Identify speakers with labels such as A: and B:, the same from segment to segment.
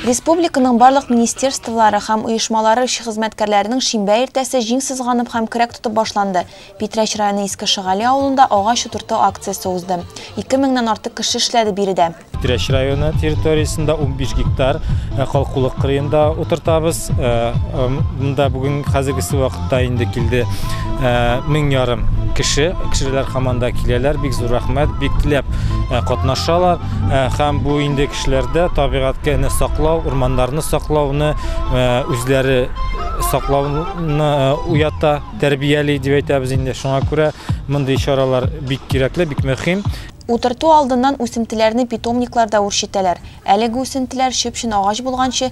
A: Республиканың барлык министерстволары һәм оешмалары эшче хезмәткәрләренең шимбә иртәсе җиң сызганып һәм көрәк тотып башланды. Питрәч районы Иске Шыгали авылында агач утырту акциясе узды. Ике меңнән артык кеше эшләде биредә. Питрәч районы
B: территориясендә унбиш гектар калкулык кырыенда утыртабыз. Монда бүген хәзергесе вакытта Та инде килде мең ярым кеше. Кешеләр команда киләләр, бик зур рәхмәт, бик теләп катнашалар. Һәм бу инде кешеләрдә табигатьне саклау, урманнарны саклауны үзләре саклауны уята, тәрбияли дип әйтәбез инде. Шуңа күрә мондый чаралар бик кирәкле, бик мөһим. Утырту алдыннан
A: үсентеләрне питомникларда үрчетәләр. Әлеге үсентеләр чүп-чын агач булганчы,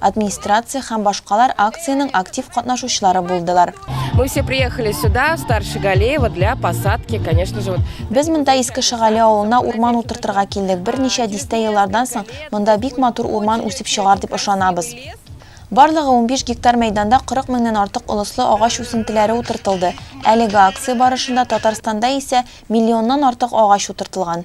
A: администрация һәм башкалар акциянең актив катнашучылары булдылар. Мы все приехали
C: сюда, в Старше Галеево, для посадки, конечно же, вот. Без монда Иске
A: Шагали авылына урман утыртырга килдек. Берничә дистә еллардан соң монда бик матур урман үсеп чыгар дип ышанабыз. Барлыгы 15 гектар мәйданда 40 меңнән артык олыслы агач үсентеләре утыртылды. Әлеге акция барышында Татарстанда исә миллионнан артык агач утыртылган.